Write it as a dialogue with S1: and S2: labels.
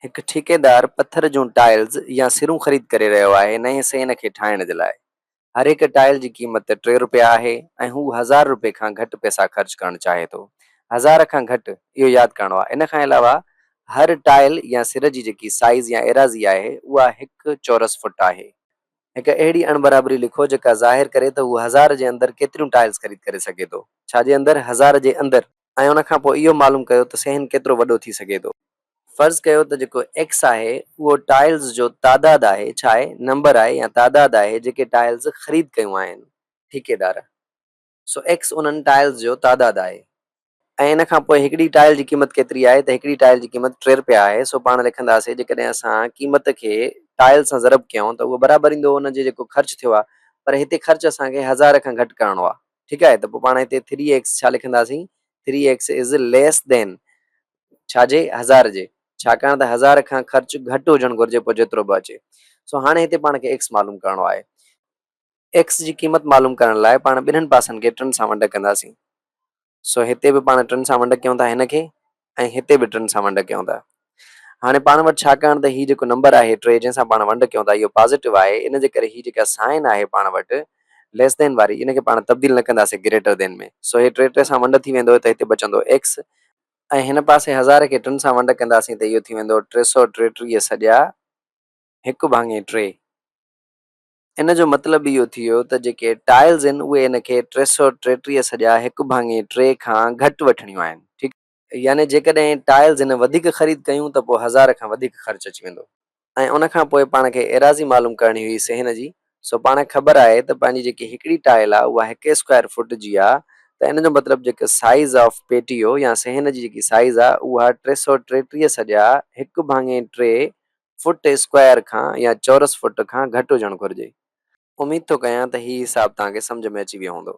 S1: هڪ ٺيڪيدار پٿر جون ٽائلز يا سرون خريد ڪري رهيو آهي نئين سئن کي ٺاهڻ جي لاء. هر هڪ ٽائل جي قيمت ٽي رپيا آهي ۽ هو هزار رپئي کان گهٽ پئسا خرچ ڪرڻ چاهي ٿو. هزار کان گهٽ، اهو ياد ڪرڻو آهي. ان کان علاوه هر ٽائل يا سر جي جيڪي سائيز يا ايراضي آهي اها هڪ چورس فٽ آهي. هڪ اهڙي اڻبرابري لکو جيڪا ظاهر ڪري ته هو هزار جي اندر ڪيتريون ٽائلز خريد ڪري سگهي ٿو. ڇا جي اندر؟ هزار جي اندر. ۽ ان کان پوء اهو معلوم ڪيو ته صحن ڪيترو وڏو ٿي سگهي ٿو. فرض ڪيو ته جيڪو ايڪس آهي اهو ٽائلز جو تعداد آهي، ڇا آهي؟ نمبر آهي يا تعداد آهي جيڪي ٽائلز خريد ڪيون آهن ٺيڪيدار. سو ايڪس انهن ٽائلز جو تعداد آهي. ۽ ان کان پوء هڪڙي ٽائل جي قيمت ڪيتري آهي ته هڪڙي ٽائل جي قيمت ٽي رپيا آهي. سو پاڻ لکنداسين جيڪڏهن اسان قيمت کي ٽائل سان ضرب ڪيون ته اهو برابر ايندو ان جي جيڪو خرچ ٿيو آهي پر هتي خرچ اسان کي هزار کان گهٽ ڪرڻو آهي. ٺيڪ آهي ته پوء پاڻ هتي ٿري ايڪس ڇا لکنداسين three X is less than ڇا جي هزار جي ڇاڪاڻ ته هزار کان خرچ گهٽ هجڻ گهرجي پوء جيترو به اچي سو هاڻي هتي پاڻ کي ايڪس معلوم ڪرڻو آهي ايڪس جي قيمت معلوم ڪرڻ لاء پاڻ ٻنهن پاسن کي ٽن سان ونڊ ڪنداسين سو هتي به پاڻ ٽن سان ونڊ ڪيون ٿا هن کي ۽ هتي به ٽن سان ونڊ ڪيون ٿا. هاڻي پاڻ وٽ ڇاڪاڻ ته هي جيڪو نمبر آهي ٽي جنهن سان پاڻ ونڊ ڪيون ٿا اهو پازيٽو آهي ان جي ڪري هي جيڪا سائن آهي پاڻ وٽ ليس دين واري ان کي پاڻ تبديل نه ڪنداسين گريٽر دين ۾ سو هي ٽي ٽي سان ونڊ ٿي ويندو ته هتي بچندو ايڪس ۽ هن پاسي هزار کي ٽن سان ونڊ ڪنداسين ته اهو ٿي ويندو ٽي سؤ ٽيٽيهه سڄا هڪ ڀاڱي ٽي. ان جو مطلب اهو ٿي ويو ته جيڪي ٽائلز آهن اهي ان کي ٽي سؤ ٽيٽيهه سڄا هڪ ڀاڱي ٽي کان گهٽ وٺڻيون آهن ٺيڪ آهي. يعني جيڪڏهن ٽائلز هن وڌيڪ خريد ڪيون ته پوء هزار کان وڌيڪ خرچ اچي ويندو ۽ ان کان پوء پاڻ کي ايراضي معلوم ڪرڻي هئي صحن جي سو پاڻ کي خبر آهي ته پنهنجي جيڪي هڪڙي ٽائل آهي اها هڪ اسڪوائر فوٽ جي آهي ته ان جو مطلب جيڪي سائيز آف پيٽيو يا صحن جي جيڪي سائيز آهي اها ٽي سؤ ٽيٽيهه سڄا هڪ ڀاڱي ٽي فوٽ اسڪوائر کان يا چورس فوٽ کان گهٽ هجڻ گهرجي. اميد ٿو ڪيان ته هي حساب توهان کي سمجهه ۾ اچي ويو هوندو.